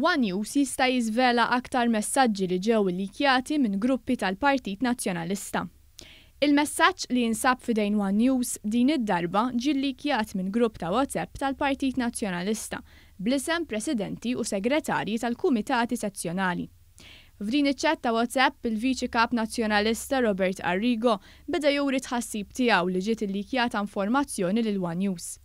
One News jista' jiżvela aktar messaġġi li ġew illeakjati minn gruppi tal-Partit Nazzjonalista. Il-messaġġ li jinsab f'idejn One News din id-darba ġie lleakjat minn grupp ta' WhatsApp tal-Partit Nazzjonalista bl-isem Presidenti u Segretarji tal-Kumitati Sezzjonali. F'din iċ-chat ta' WhatsApp, il-Viċi Kap Nazzjonalista Robert Arrigo beda juri t-tħassib tiegħu li ġiet illikjata informazzjoni lil one News.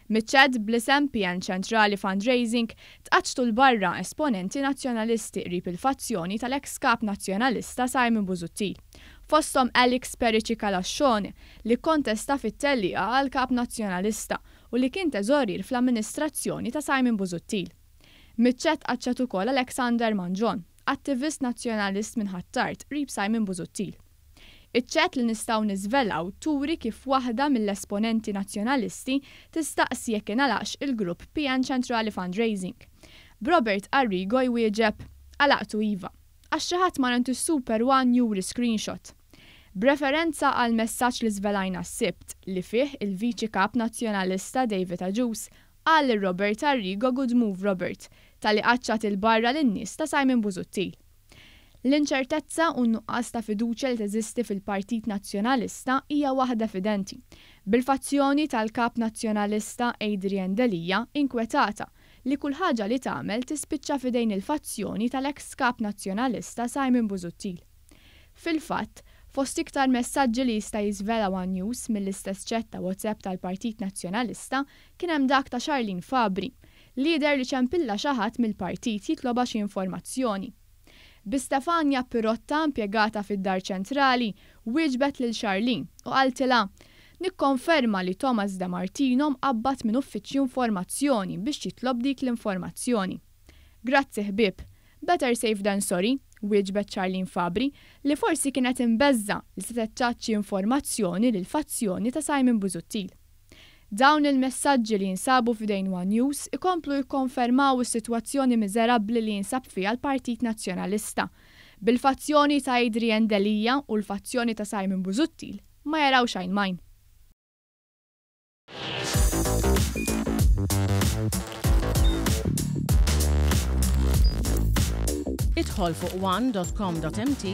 Miċ-chat bl-isem PN Ċentrali Fundraising tqaċċtu 'l barra esponenti Nazzjonalisti qrib il-fazzjoni tal-eks Kap Nazzjonalista Simon Busuttil, fosthom Alix Perici Calascione li kkontesta fit-tellieqa għal Kap Nazzjonalista u li kien Teżorier fl-amministrazzjoni ta' Simon Busuttil. Miċ-ċett qaċċat ukoll Alexander Mangion, attivist Nazzjonalist minn Ħ'Attard qrib Simon Busuttil. Iċ-ċett li nistgħu niżvelaw turi kif waħda mill-esponenti Nazzjonalisti tistaqsi jekk ingħalaqx il-grupp PN Ċentrali Fundraising. B'Robert Arrigo jwieġeb, Għalaqtu iva. Għax xi ħadd mar għand is-Super One juri screenshot. B'referenza għall-messaġġ li żvelajna s-Sibt, li fih il-Viċi Kap Nazzjonalista David Agius Qal lil Robert Arrigo good move Robert, talli qaċċat 'il barra lin-nies ta' Simon Busuttil. L-inċertezza u n-nuqqas ta' fiduċja li teżisti fil-Partit Nazzjonalista hija waħda evidenti, bil-fazzjoni tal-Kap Nazzjonalista Adrian Delia inkwetata li kull ħaġa li tagħmel tispiċċa f'idejn il-fazzjoni tal-eks Kap Nazzjonalista Simon Busuttil. Fil-fatt, fost iktar messaġġi li jista' jiżvela one News mill-istess ċett ta' WhatsApp tal-Partit Nazzjonalista, Kien hemm dak ta' Charlene Fabri, li jidher li ċempilha xi ħadd mill-partit jitlobha xi informazzjoni. Bi Stefania Pirotta, impjegata fid-Dar Ċentrali, wieġbet lil Charlene u qaltilha, Nikkonferma li Thomas De Martino mqabbad minn Uffiċċju Informazzjoni biex jitlob dik l-informazzjoni. Grazzi ħbieb. Better safe than sorry, wieġbet Charlene Fabri, li forsi kienet imbeżża' li setgħet tgħaċċi informazzjoni lill-fazzjoni ta' Simon Busuttil. Dawn il-messaġġi li jinsabu f'idejn one News ikomplu jikkonfermaw is-sitwazzjoni miżerabbli li jinsab fiha l-Partit Nazzjonalista. Bil-fazzjoni ta' Adrian Delia u l-fazzjoni ta' Simon Busuttil ma jarawx għajn m'għajn. Idħol fuq one dot com dot mt